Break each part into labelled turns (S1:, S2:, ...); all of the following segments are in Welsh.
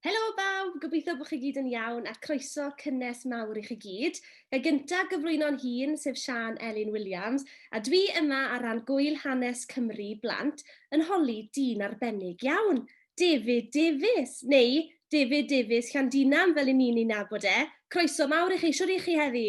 S1: Helo bawb, gobeithio bod chi gyd yn iawn a croeso cynnes mawr i chi gyd. Fe gyntaf gyflwyno'n hun, sef Sian Elin Williams, a dwi yma ar ran Gwyl Hanes Cymru Blant yn holi dyn arbennig iawn, David Davies, neu David Davies Llandinam fel i ni'n ei nabod e. Croeso mawr i chi, siwr i chi heddi?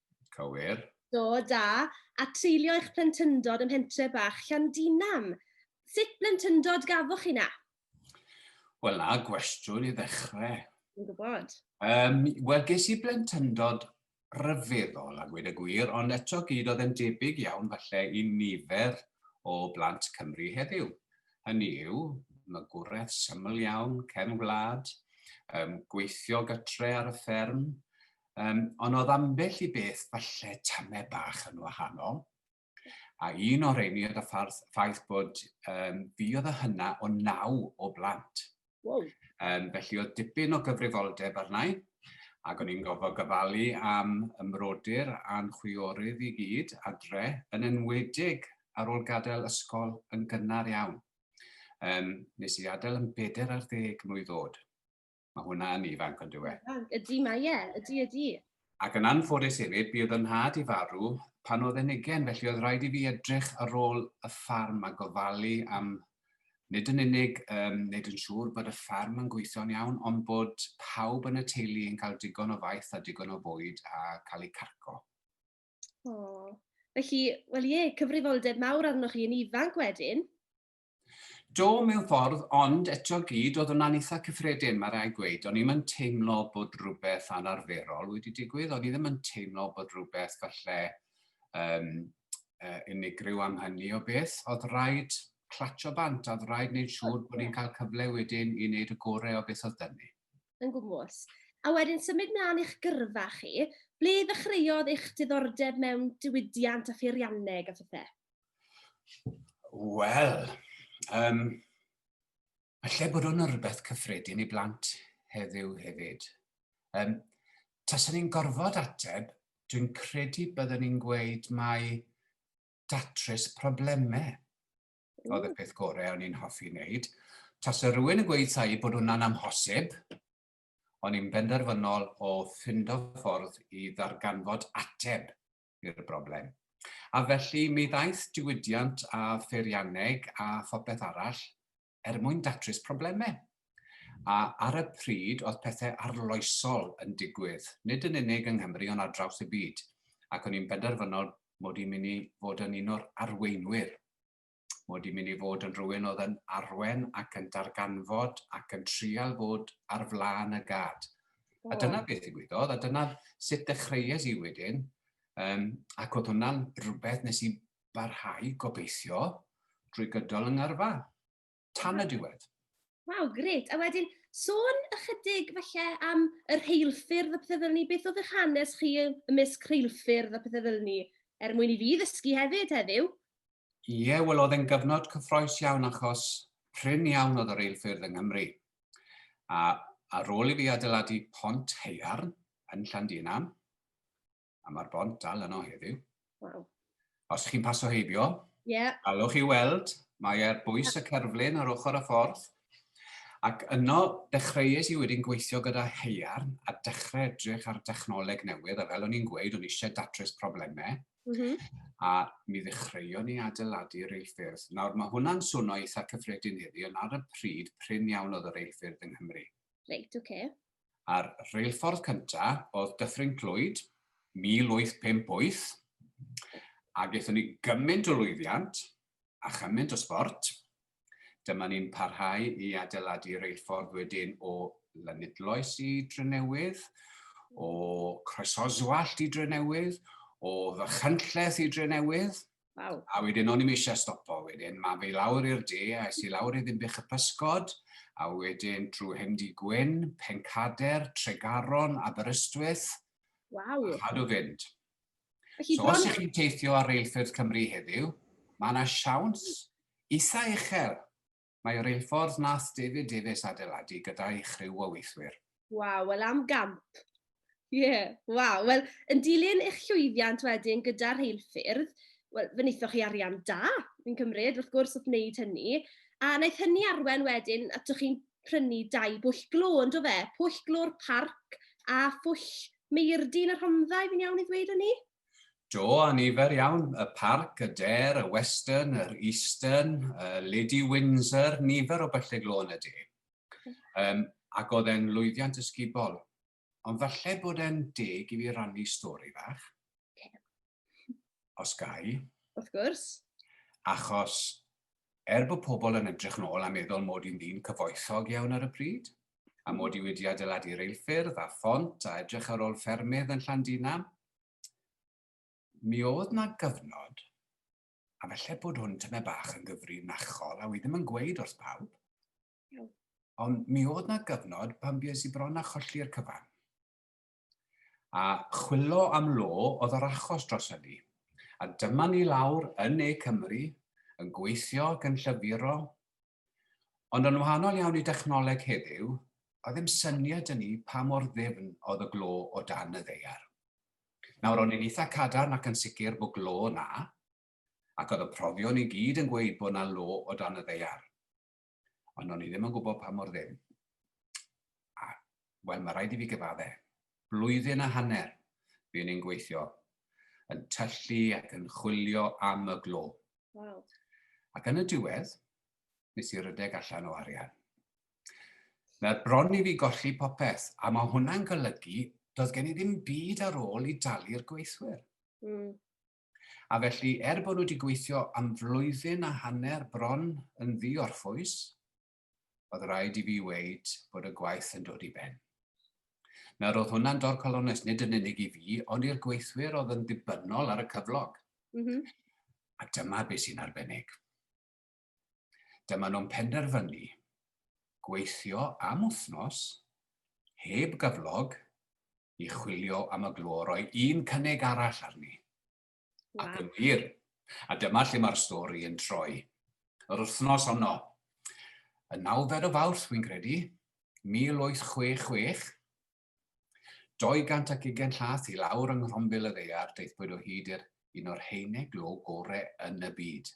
S1: Cywir.
S2: Do, da.
S1: A treulio eich plentyndod ym mhentre bach Llandinam. Sut blentyndod gafoch chi na?
S2: Wel, na gwestiwn i ddechrau. Yn gwybod.
S1: Um, Wel,
S2: ges i blentyndod rhyfeddol a gweud y gwir, ond eto gyd oedd yn debyg iawn falle i nifer o blant Cymru heddiw. Hynny yw, magwraeth syml iawn, cefn gwlad, um, gweithio gytre ar y fferm, Um, ond oedd ambell i beth falle tame bach yn wahanol. A un o'r reini oedd y ffaith bod um, fi oedd y hynna o naw o blant. Wow.
S1: Um, felly oedd
S2: dipyn o gyfrifoldeb arnau, ac o'n i'n gofod gyfalu am ymrodyr a'n chwiorydd i gyd adre, yn enwedig ar ôl gadael ysgol yn gynnar iawn. Um, nes i adael yn bedair ar ddeg mlwydd oed. Mae hwnna yn ifanc ond yw e? Ydy, mae ie,
S1: ydy, ydy. Ac yn
S2: anffodus hefyd, bydd yn nhad i farw pan oedd e'n ugen, felly oedd rhaid i fi edrych ar ôl y ffarm a gofalu am nid yn unig um, nid yn siŵr bod y ffarm yn gweithio'n iawn, ond bod pawb yn y teulu yn cael digon o faith a digon o fwyd a cael eu carco. O,
S1: felly, wel ie, cyfrifoldeb mawr arnoch chi yn ifanc wedyn.
S2: Do, mewn ffordd, ond eto gyd oedd hwnna'n eitha cyffredin, mae rhaid gweud. O'n i'm yn teimlo bod rhywbeth anarferol wedi digwydd, o'n i ddim yn teimlo bod rhywbeth falle um, uh, unigryw am hynny o beth. Oedd rhaid clatio bant, oedd rhaid wneud siŵr bod ni'n cael cyfle wedyn i wneud y gorau o beth oedd dynnu. Yn gwmwys.
S1: A wedyn symud mlaen i'ch gyrfa chi, ble ddechreuodd eich diddordeb mewn diwydiant a pheirianneg a phethau? Wel,
S2: um, allai bod o'n rhywbeth cyffredin i blant heddiw hefyd. Um, Taswn ni'n gorfod ateb, dwi'n credu byddwn ni'n gweud mai datrys problemau oedd y peth gorau o'n i'n hoffi wneud. Tas y rhywun yn gweud thai bod hwnna'n amhosib, o'n i'n benderfynol o ffindo ffordd i ddarganfod ateb i'r broblem. A felly mi ddaeth diwydiant a pheirianneg a phopeth arall er mwyn datrys problemau. A ar y pryd oedd pethau arloesol yn digwydd, nid yn unig yng Nghymru ond ar draws y byd, ac o'n i'n benderfynol mod i'n mynd i fod yn un o'r arweinwyr mod i'n mynd i fod yn rhywun oedd yn arwen ac yn darganfod ac yn trial bod ar flaen y gad. A dyna beth i gwydodd, a dyna sut dechreues i wedyn, um, ac oedd hwnna'n rhywbeth nes i barhau gobeithio drwy gydol yng ngyrfa, tan y diwedd. Waw, gret.
S1: A wedyn, sôn ychydig falle am yr heilffyrdd a pethau fel ni, beth oedd eich hanes chi ymysg rheilffyrdd a pethau fel ni, er mwyn i fi ddysgu hefyd heddiw? Ie,
S2: wel oedd e'n gyfnod cyffroes iawn achos prin iawn oedd y reilffyrdd yng Nghymru. A ar ôl i fi adeiladu pont heiarn yn Llandinam, a mae'r bont dal yno heddiw. Wow.
S1: Os chi'n
S2: paso heibio, yeah. allwch chi weld, mae ar bwys y cerflun ar ochr y ffordd. Ac yno, dechreuais i wedyn gweithio gyda heiarn a dechrau edrych ar dechnoleg newydd, a fel o'n i'n gweud, o'n eisiau datrys problemau. Mm -hmm. A mi ddechreuon ni adeiladu yr eilffyrdd. Nawr, mae hwnna'n swnio eitha cyffredin heddi, ond ar y pryd, prin iawn oedd yr eilffyrdd yng Nghymru. Reit, oce.
S1: Okay. A'r
S2: reilffordd cyntaf oedd Dyffryn Clwyd, 1858, a gaethon ni gymaint o lwyddiant a chymaint o sbort, Dyma ni'n parhau i adeiladu reilffordd wedyn o Lanidloes i Drenewydd, o Croesoswallt i Drenewydd, o Fachynlleth i Drenewydd. Wow. A wedyn
S1: o'n i'm eisiau
S2: stopo wedyn, mae fe lawr i'r de, a es i lawr i Ddimbych y Pysgod, a wedyn trwy Hemdi Gwyn, Pencader, Tregaron, Aberystwyth.
S1: Waw. A
S2: chadw fynd. Felly,
S1: so, os ych chi'n teithio
S2: ar reilffyrdd Cymru heddiw, mae yna siawns isa uchel Mae reilffordd nath David Davies adeiladu gyda'i chriw o weithwyr. Waw, wel am
S1: gamp. Ie, yeah, waw. Wel, yn dilyn eich llwyddiant wedyn gyda rheilffyrdd, wel, fe wnaethoch chi arian da, fi'n cymryd, wrth gwrs, wrth wneud hynny. A wnaeth hynny arwen wedyn, atoch chi'n prynu dau bwll glo, ynddo fe? Pwll glo'r parc a phwll Meirdin y Rhondda, fi'n iawn i ddweud hynny? Do, a
S2: nifer iawn, y parc, y der, y western, yr eastern, y Lady Windsor, nifer o byllyg lôn y de. Um, ac oedd e'n lwyddiant ysgubol. Ond falle bod e'n deg i fi rannu stori fach. Os gai. Wrth gwrs.
S1: Achos,
S2: er bod pobl yn edrych nôl a meddwl mod i'n ddyn cyfoethog iawn ar y pryd, a mod i wedi adeiladu reilffyrdd a phont a edrych ar ôl ffermydd yn Llandina. Mi oedd na gyfnod, a felly bod hwn tyme bach yn gyfrinachol, a wi ddim yn gweud wrth bawb, ond mi oedd na gyfnod pan bues i bron a cholli'r cyfan. A chwilo am lo oedd yr achos dros hynny. A dyma ni lawr yn ne Cymru, yn gweithio ac yn llyfuro, Ond yn wahanol iawn i dechnoleg heddiw, oedd ddim syniad dyn ni pa mor ddifn oedd y glo o dan y ddaear. Nawr, o'n i'n eitha cadarn ac yn sicr bod glo na, ac oedd y profion i gyd yn gweud bod na lo o dan y ddaear. Ond o'n i ddim yn gwybod pa mor ddim. A wel mae rhaid i fi gyfadde, blwyddyn a hanner fi'n i'n gweithio, yn tyllu ac yn chwilio am y glo. Wow.
S1: Ac yn y
S2: diwedd, nes i rydeg allan o arian. Mae bron i fi golli popeth, a mae hwnna'n golygu doedd gen i ddim byd ar ôl i dalu'r gweithwyr. Mm. A felly, er bod nhw wedi gweithio am flwyddyn a hanner bron yn ddi-orffwys, oedd rhaid i fi weid bod y gwaith yn dod i ben. Nawr oedd hwnna'n dorcal onest, nid yn unig i fi, ond i'r gweithwyr oedd yn ddibynnol ar y cyflog. Mm -hmm. A dyma beth sy'n arbennig. Dyma nhw'n penderfynu gweithio am wythnos, heb gyflog, i chwilio am y glor, roi un cynnig arall arni. Wow. Ac yn wir. A dyma lle mae'r stori yn troi. Yr wythnos honno, y nawfed o fawrth, fi'n credu, 1866, 220 llath i lawr yng Nghrombil y Ddear, deithbwyd o hyd i'r un o'r heine glo gore yn y byd.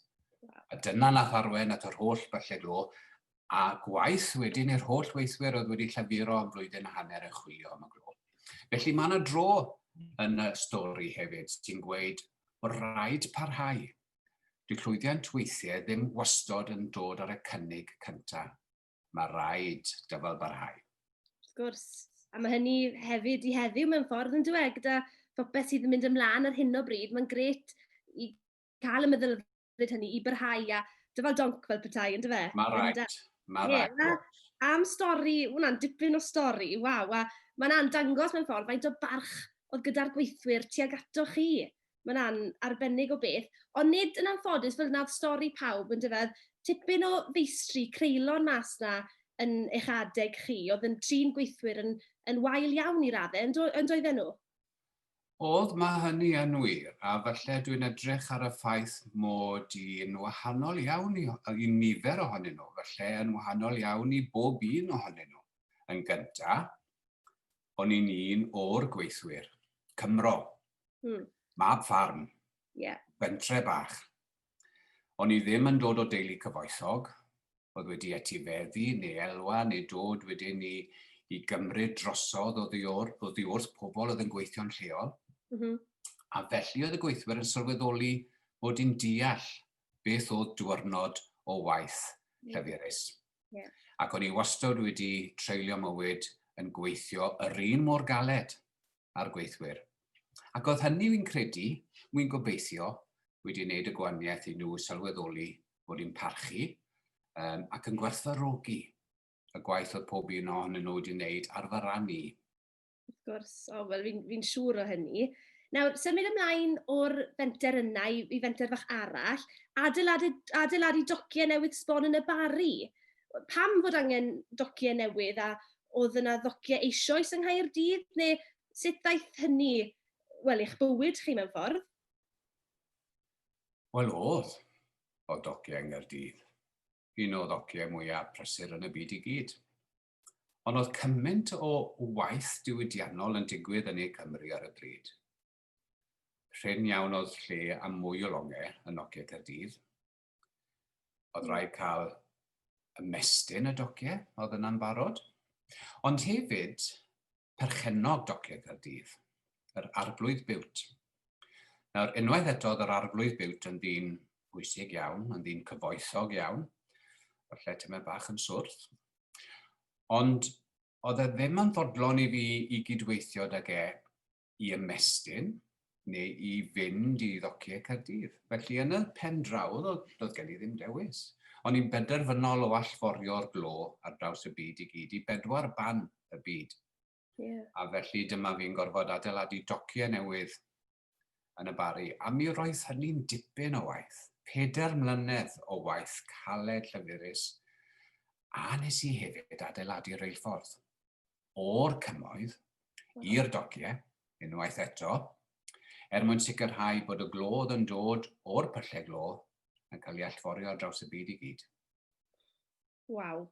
S2: A dyna nath arwen at yr holl byllau glo a gwaith wedyn i'r holl weithwyr oedd wedi llafuro am flwyddyn a hanner yn chwilio am y glo. Felly mae yna dro yn y stori hefyd sy'n gweud bod rhaid parhau. Dwi llwyddiant weithiau ddim wastod yn dod ar y cynnig cyntaf. Mae rhaid dyfal barhau. Wrth gwrs,
S1: a mae hynny hefyd i heddiw mewn ffordd yn dweud gyda phopeth sydd yn mynd ymlaen ar hyn o bryd, mae'n gret i cael y meddylfryd bryd hynny i barhau a dyfal donc fel petai, yn dyfe? Mae rhaid, mae
S2: rhaid. Am stori,
S1: hwnna'n dipyn o stori, waw, a mae'n a'n dangos mewn ffordd faint o barch oedd gyda'r gweithwyr tuag ato chi. Mae'n a'n arbennig o beth, ond nid yn anffodus fel yna'r stori pawb, yn dyfe? Tipyn o feistri, creulon mas na yn eich adeg chi, oedd yn trin gweithwyr yn, yn wael iawn i raddau, yn, do, yn doedden nhw? Oedd,
S2: mae hynny yn wir, a falle dwi'n edrych ar y ffaith mod i'n wahanol iawn i, i nifer ohonyn nhw, falle yn wahanol iawn i bob un ohonyn nhw. Yn gyntaf, o'n i'n un o'r gweithwyr, Cymro, mm. mab ffarm, yeah. bentre bach, O'n i ddim yn dod o deulu cyfoethog, oedd wedi etifeddu neu elwa neu dod wedyn i, i gymryd drosodd oddi wrth pobl oedd yn gweithio'n lleol. Mm -hmm. A felly oedd y gweithwyr yn sylweddoli bod i'n deall beth oedd diwrnod o waith lleferus. Yeah. Ac o'n i wastad wedi treulio mywyd yn gweithio yr un mor galed. a'r gweithwyr. Ac oedd hynny, wy'n credu, wy'n gobeithio, wedi wneud y gwaniaeth i nhw sylweddoli bod yn parchu um, ac yn gwerthfarogi y gwaith oedd pob un ohonyn nhw wedi wneud ar fy ran i. Wrth gwrs,
S1: o, oh, wel, fi'n fi siŵr o hynny. Nawr, symud ymlaen o'r fenter yna i, i fenter fach arall, adeiladu, adeiladu dociau newydd sbon yn y bari. pam fod angen dociau newydd a oedd yna ddociau eisoes yng Nghaerdydd neu sut ddaeth hynny, wel, i'ch bywyd chi mewn ffordd?
S2: Wel, oedd. Oedd dociau yng Nghaerdydd. Un o ddociau mwyaf prysur yn y byd i gyd. Ond oedd cymaint o waith diwydiannol yn digwydd yn ei Cymru ar y bryd. Rhyn iawn oedd lle am mwy o longau yn Nokia Caerdydd, Oedd hmm. rhaid cael ymestyn y dociau, oedd yna'n barod. Ond hefyd, perchennog dociau Caerdydd, yr arflwydd biwt. Nawr, unwaith eto, oedd yr arflwydd biwt yn ddyn bwysig iawn, yn ddyn cyfoethog iawn, o'r lle tyma bach yn swrth. Ond oedd e ddim yn ddodlon i fi i gydweithio ag e i ymestyn neu i fynd i ddociau Caerdydd. Felly yn y pen draw, oedd, oedd gen i ddim dewis. O'n i'n benderfynol o allforio'r glo ar draws y byd i gyd i bedwar ban y byd. Yeah. A
S1: felly dyma
S2: fi'n gorfod adeiladu dociau newydd yn y bari. A mi roedd hynny'n dipyn o waith. Peder mlynedd o waith caled llyfurus. A nes i hefyd adeiladu reilffordd. o'r cymoedd i'r dogiau, unwaith eto, er mwyn sicrhau bod y glodd yn dod o'r pyllau glo yn cael ei allforio ar draws y byd i gyd.
S1: Waw.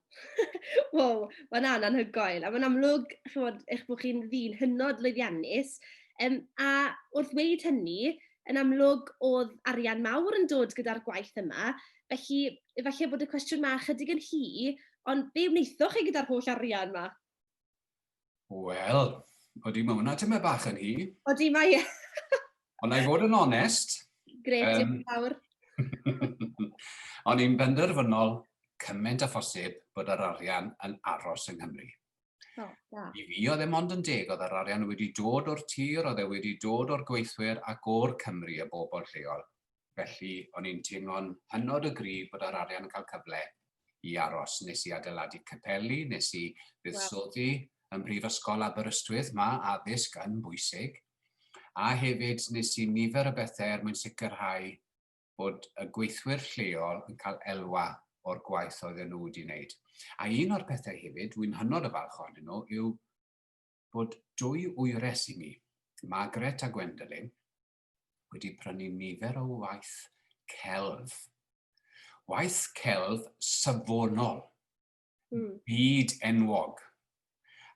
S1: wow, mae'n anhygoel. A mae'n amlwg, chymod, eich bod chi'n ddyn hynod lwyddiannus. Um, a wrth wneud hynny, yn amlwg oedd arian mawr yn dod gyda'r gwaith yma. Felly, efallai bod y cwestiwn ma chydig yn hi, Ond be wnaethoch chi gyda'r holl arian 'ma?
S2: Wel, odi, mae hwnna tymed bach yn hi. Odi, mae e.
S1: Ond na i
S2: fod yn onest. Gret, um, diolch
S1: fawr.
S2: Ond i'n benderfynol cymaint a phosib bod yr arian yn aros yng Nghymru. Oh, yeah. I fi oedd e mond yn deg oedd yr arian wedi dod o'r tir, oedd e wedi dod o'r gweithwyr ac o'r Cymru y bobl lleol. felly o'n i'n teimlo'n hynod o gryf bod yr arian yn cael cyfle i aros. Nes i adeiladu capeli, nes i fuddsoddi ym Mhrifysgol Aberystwyth, mae addysg yn bwysig. A hefyd nes i nifer o bethau er mwyn sicrhau bod y gweithwyr lleol yn cael elwa o'r gwaith oedd nhw wedi wneud. A un o'r pethau hefyd, wy'n hynod o falch ohonyn nhw, yw bod dwy wyres i mi, Margaret a Gwendolyn, wedi prynu nifer o waith celf. Waith celf safonol, mm. byd enwog.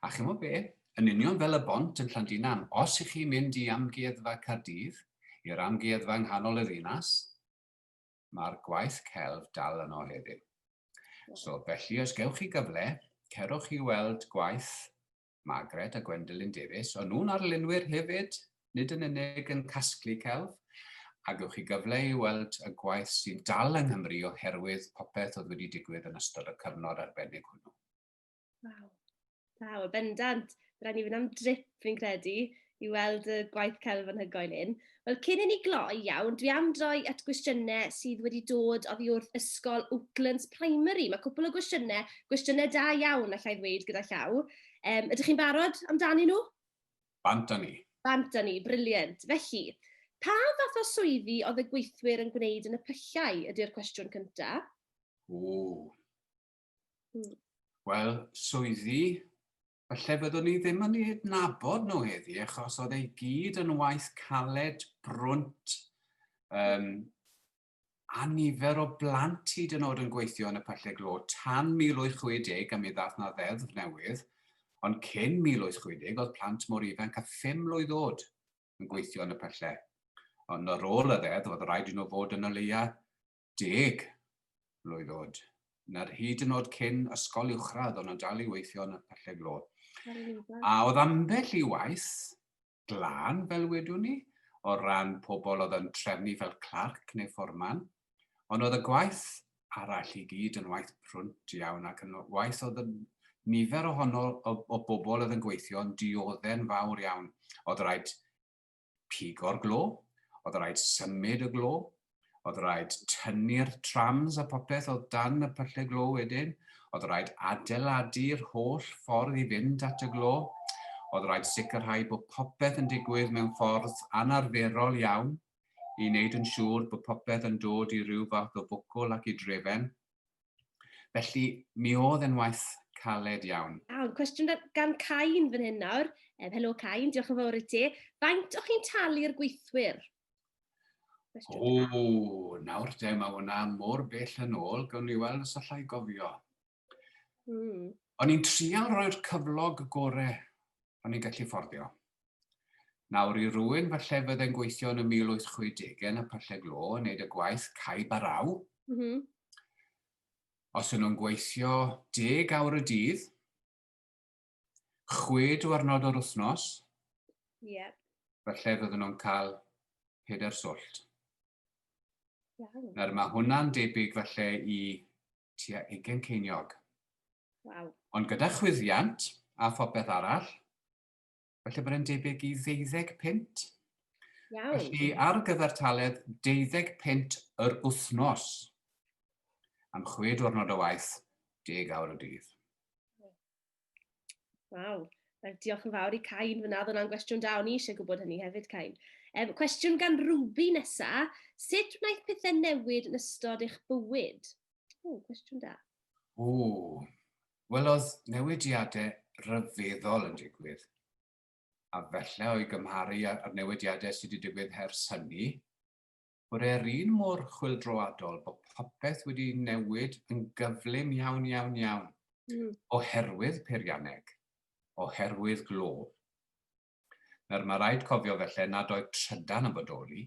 S2: A chymod be, yn union fel y bont yn Llandinan, os ych chi'n mynd i amgueddfa Cardydd, i'r amgueddfa yng nghanol y ddinas, mae'r gwaith celf dal yno heddiw. So, felly, os gewch chi gyfle, cerwch i weld gwaith Margaret a Gwendolyn Davies, o'n nhw'n arlunwyr hefyd, nid yn unig yn casglu celf, a gewch chi gyfle i weld y gwaith sy'n dal yng Nghymru oherwydd popeth oedd wedi digwydd yn ystod y cyfnod arbennig hwnnw. Waw,
S1: waw, y bendant. Rhaid ni fynd am drip, fi'n credu, i weld y gwaith celf anhygoel hyn. Wel, cyn i ni gloi iawn, dwi am droi at gwestiynau sydd wedi dod oddi wrth Ysgol Oaklands Primary. Mae cwpl o gwestiynau, gwestiynau da iawn, allai ddweud gyda llaw. Um, ydych chi'n barod amdani nhw? Bant â ni.
S2: Bant â ni,
S1: briliant. Felly, pa fath o swyddi oedd y gweithwyr yn gwneud yn y pyllau ydy'r cwestiwn cyntaf? O. Hmm.
S2: Wel, swyddi Falle fyddwn ni ddim yn eu adnabod nhw heddi achos oedd ei gyd yn waith caled, brwnt, um, a nifer o blant hyd yn oed yn gweithio yn y pyllau glo tan 1860 a mi ddath na ddeddf newydd, ond cyn 1860 oedd plant mor ifanc a 5 mlwydd oed yn gweithio yn y pyllau. Ond ar ôl y ddeddf oedd rhaid i nhw fod yn y leia Deg! Blwydd oed. Na'r hyd yn oed cyn ysgol uwchradd, ond yn dal i weithio yn y Pyllau Glo. A oedd ambell i waith glân, fel wedwn ni, o ran pobl oedd yn trefnu fel clarc neu fforman, ond oedd y gwaith arall i gyd yn waith prwnt iawn ac yn waith oedd yn nifer ohono o, o bobl oedd yn gweithio yn diodde'n fawr iawn. Oedd rhaid pigo'r glo, oedd rhaid symud y glo, oedd rhaid tynnu'r trams a popeth oedd dan y pyllau glo wedyn, oedd rhaid adeiladu'r holl ffordd i fynd at y glo, oedd rhaid sicrhau bod popeth yn digwydd mewn ffordd anarferol iawn i wneud yn siŵr bod popeth yn dod i ryw fath o fwcl ac i drefen. Felly, mi oedd e'n waith caled iawn. Iawn, cwestiwn gan
S1: Cain fan hyn nawr. Um, helo Cain, diolch yn fawr i ti. Faint o'ch chi'n talu'r gweithwyr? O, nawr de, mae
S2: hwnna mor bell yn ôl, gawn ni weld os allai gofio. Mm. O'n i'n trial rhoi'r cyflog gore o'n i'n gallu fforddio. Nawr i rywun falle fydde'n gweithio yn y 1860au yn y pyllau glo yn neud y gwaith caib a raw. Mm -hmm. Os yn nhw'n gweithio deg awr y dydd, chwe diwrnod o'r wythnos, yep. falle fydden nhw'n cael peder swllt. Iawn. Nawr mae hwnna'n debyg falle i tua ugen ceiniog. Wow. Ond gyda chwyddiant a phopeth arall, felly bod e'n debyg i ddeuddeg pint. Iawn. Felly ar gyfer taled deuddeg pint yr wythnos am chwe diwrnod o waith, deg awr y dydd. Waw,
S1: diolch yn fawr i Cain fyna, oedd hwnna'n gwestiwn da, o'n i eisiau gwybod hynny hefyd Cain. Um, cwestiwn gan Ruby nesa, sut wnaeth pethau newid yn ystod eich bywyd? O, cwestiwn da. O, Wel,
S2: oedd newidiadau rhyfeddol yn digwydd. A felly o'i gymharu â'r newidiadau sydd wedi digwydd hers hynny, bod e'r un mor chwildroadol bod popeth wedi newid yn gyflym iawn, iawn, iawn, mm. oherwydd peirianneg, oherwydd glo. Nawr, mae rhaid cofio felly nad oedd trydan yn bodoli,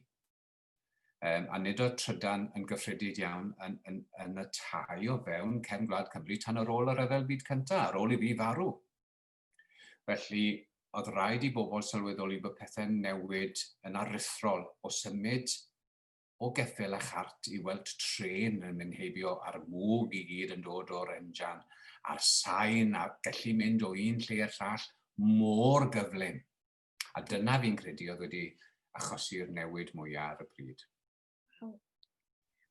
S2: Yym, a nid oedd trydan yn gyffredid iawn yn, yn, yn y tai o fewn cefn gwlad Cymru tan ar ôl y Rhyfel Byd Cyntaf, ar ôl i fi farw. Felly, oedd rhaid i bobl sylweddoli bod pethau'n newid yn aruthrol o symud o geffyl a chart i weld tren yn mynd heibio a'r mwg i gyd yn dod o'r enjan a'r sain a gallu mynd o un lle i'r llall mor gyflym. A dyna fi'n credu oedd wedi achosi'r newid mwyaf ar y pryd.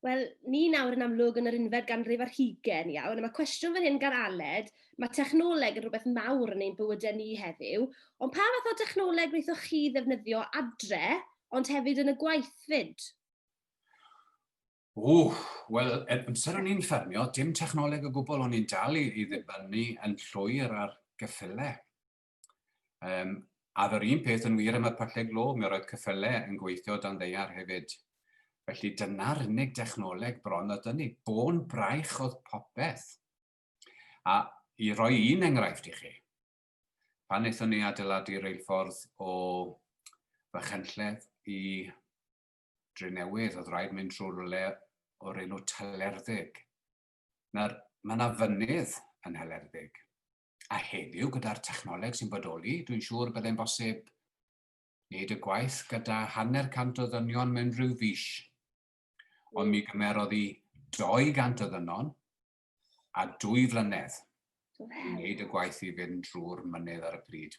S2: Wel,
S1: ni nawr yn amlwg yn yr unfed ganrif ar hugen iawn, a mae cwestiwn fan hyn gan Aled, mae technoleg yn rhywbeth mawr yn ein bywydau ni heddiw, ond pa fath o technoleg wnaethoch chi ddefnyddio adre, ond hefyd yn y gwaith fyd? O,
S2: wel, er amser o'n i'n ffermio, dim technoleg o gwbl, o'n i'n dal i, i ddibynnu yn llwyr ar geffylau. Um, a yr un peth yn wir am y pyllau glo, mi roedd cyffylau yn gweithio dan ddeiar hefyd. Felly dyna'r unig dechnoleg bron oedd ni. Bôn braich oedd popeth. A i roi un enghraifft i chi, pan wnaethon ni adeiladu reilffordd o Fychenlledd i Drenewydd, oedd rhaid mynd trwy rwle o'r enw Talerddeg. Nawr, mae yna fynydd yn Helerddeg. A heddiw, gyda'r technoleg sy'n bodoli, dwi'n siŵr y byddai'n bosib wneud y gwaith gyda hanner cant o ddynion mewn rhyw fis. Ond mi gymerodd i 200 o ddynon a dwy flynedd i wneud y gwaith i fynd drwy'r mynydd ar y pryd.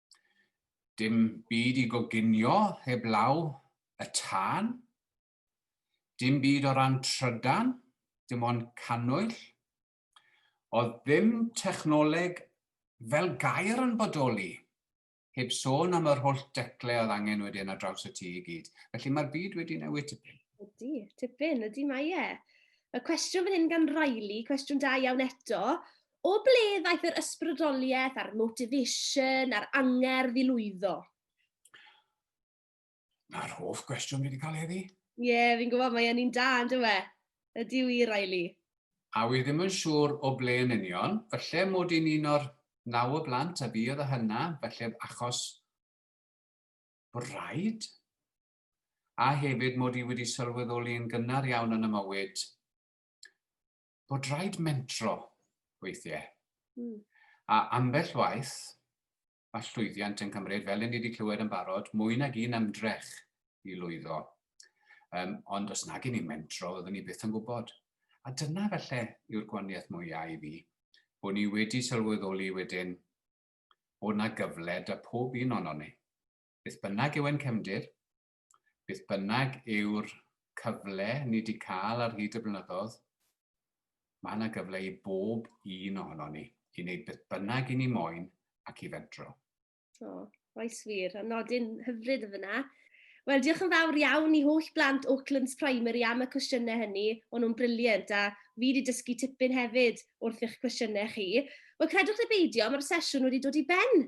S2: Dim byd i goginio heblaw y tân. Dim byd o ran trydan, dim ond cannwyll. Oedd ddim technoleg fel gair yn bodoli, heb sôn am yr holl decle oedd angen wedyn ar draws y tŷ i gyd. Felly mae'r byd wedi newid tipyn. Ydy, tipyn,
S1: ydy mae e. Mae cwestiwn fan hyn gan Riley, cwestiwn da iawn eto. O ble ddaeth yr ysbrydoliaeth a'r motivation a'r angerdd i lwyddo?
S2: Na'r hoff gwestiwn fi wedi cael heddi. Ie, yeah, fi'n gwybod, mae
S1: un da, yn dywe. Ydy yw i, Riley. A wy ddim
S2: yn siŵr o ble yn union, falle mod i'n un o'r naw o blant a fi oedd y hynna, falle achos bod rhaid. A hefyd mod i wedi sylweddoli yn gynnar iawn yn y mywyd bod rhaid mentro weithiau. Mm. A ambell waith, mae llwyddiant yn cymryd, fel ni wedi clywed yn barod, mwy nag un ymdrech i lwyddo. Um, ond os nag i ni mentro, oeddwn ni byth yn gwybod. A dyna felly yw'r gwaniaeth mwyaf i fi, bod ni wedi sylweddoli wedyn bod na gyfle da pob un o'n ni. Beth bynnag yw ein cefndir, beth bynnag yw'r cyfle ni wedi cael ar hyd y blynyddoedd, mae yna gyfle i bob un ohono ni i wneud beth bynnag i ni moyn ac i fedro. O,
S1: oes wir, a nodyn hyfryd y fyna. Wel, diolch yn fawr iawn i holl blant Oaklands Primary am y cwestiynau hynny. O'n nhw'n briliant a fi wedi dysgu tipyn hefyd wrth eich cwestiynau chi. Wel, credwch neu beidio, mae'r sesiwn wedi dod i ben.